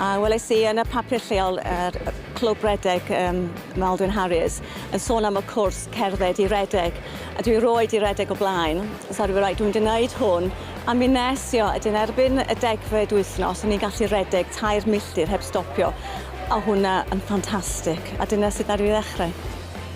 A welais i yn y papur lleol yr yy clwb redeg yym Maldwyn Harries yn sôn am y cwrs cerdded i redeg a dwi roid i redeg o blaen so o'n i reit dwi'n mynd i neud hwn a mi nes i o a 'dyn erbyn y degfed wythnos o'n i'n gallu redeg tair milltir heb stopio a o' hwnna yn ffantastic a dyna sut ddaru fi ddechre.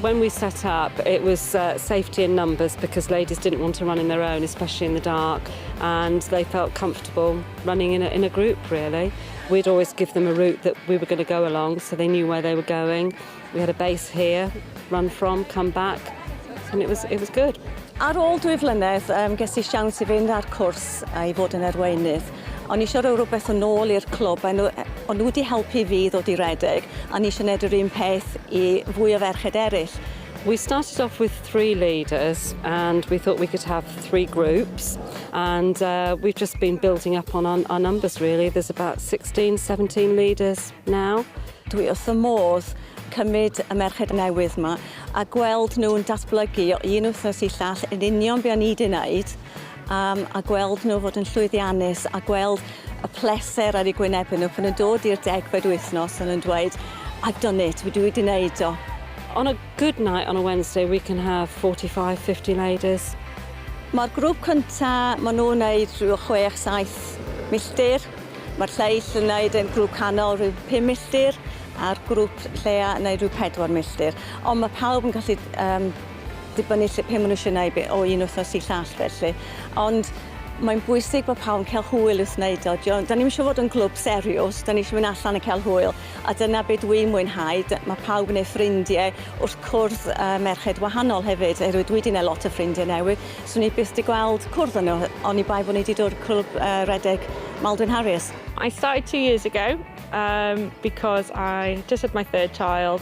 When we set up it was yy safety in numbers because ladies didn't want to run in their own especially in the dark and they felt comfortable. running in a, in a group really. We'd always give them a route that we were going to go along so they knew where they were going. We had a base here, run from, come back and it was, it was good. Ar ôl dwy flynedd, um, ges i siawns i fynd ar cwrs a i fod yn erweinydd. O'n i eisiau rhoi rhywbeth yn ôl i'r clwb, a nhw, o'n nhw wedi helpu fi ddod i redeg, a ni eisiau gwneud yr un peth i fwy o ferched eraill. We started off with three leaders and we thought we could have three groups and uh, we've just been building up on our, our numbers really. There's about 16, 17 leaders now. Dwi wrth y modd cymryd y merched newydd yma a gweld nhw'n datblygu o un wythnos i llall yn union be o'n i wedi wneud am a gweld nhw fod yn llwyddiannus a gweld y pleser ar eu gwynebu nhw pan nhw'n dod i'r degfed wythnos a nhw'n dweud I've done it, dwi wedi wneud o. On a good night on a Wednesday we can have 45, 50 ladies. Mae'r grŵp cynta, maen nhw'n wneud rhyw chwech, saith milltir. Mae'r lleill yn wneud yn grŵp canol rhyw pum milltir a'r grŵp lleia yn wneud rhyw pedwar milltir. Ond mae pawb yn gallu um, dibynnu lle pe ma' nw isie neu' be' o un wthnos i llall felly ond mae'n bwysig bo' pawb yn ca'l hwyl wrth neud o 'dio ond 'dan ni'm isio fod yn glwb seriws 'dan ni isio myn' allan a ca'l hwyl a dyna be' dwi mwynhau dy- ma' pawb yn neud ffrindie wrth cwrdd yy merched wahanol hefyd oerwydd dwi 'di neud lot o ffrindie newydd swn i byth 'di gweld cwrdd â nw hy- oni bai bo' ni 'di dod clwb yy redeg Maldwyn Harries. I started two years ago um because I just had my third child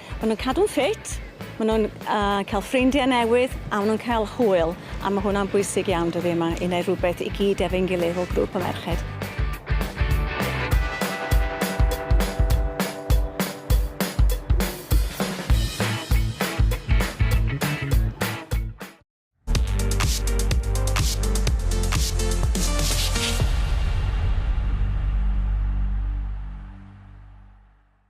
Maen nhw'n cadw'n ffit, maen nhw'n uh, cael ffrindiau newydd a maen nhw'n cael hwyl a mae hwnna'n bwysig iawn dyddi yma i wneud rhywbeth i gyd efo'n gilydd fel grŵp o merched.